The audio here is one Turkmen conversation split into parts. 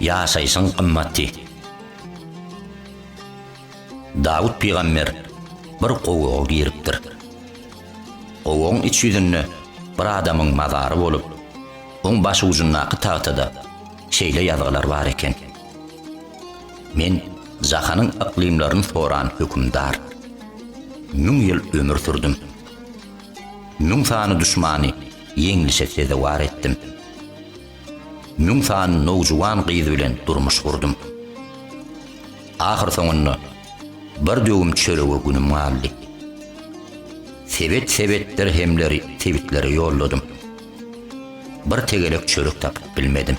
Ýaşaýşyň gymmaty. Dawut pygamber bir gowaga giripdir. Gowagyň iç ýüzünde bir adamyň mazary bolup, oň başujundaky tagtada şeýle ýazgylar bar eken, Men jahanyň yklymlaryny soran hökümdar. Müň ýyl ömür sürdüm. Müň sany duşmany ýeňlişe sezewar etdim. Müň sany nowjuwan gyz bilen durmuş gurdum. Ahyrsoňunda bir döwüm çörege günüm galdy. Sebet-sebet dirhemleri sebitlere ýolladym. Bir tegelek çörek tapyp bilmedim.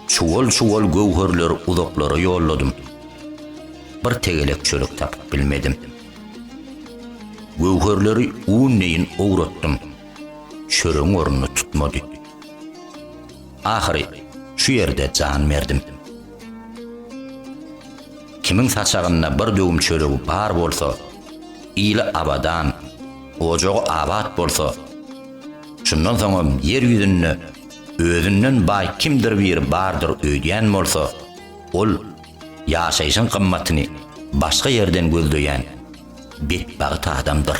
Çuwal-çuwal göwherleri uzaklara ýolladym. Bir tegelek çörek tapyp bilmedim. Göwherleri un deýin owratdym. Çöregiň ornuny tutmady. Ahyry şu ýerde jan berdim. Kimiň saçagynda bir döwüm çöregi bar bolsa, ili abadan, ojagy abat bolsa, şundan soňam ýer ýüzünde özünden baý kimdir biri bardyr öýdýän bolsa, ol ýaşaýşyň gymmatyny başga ýerden gözleýän betbagt adamdyr.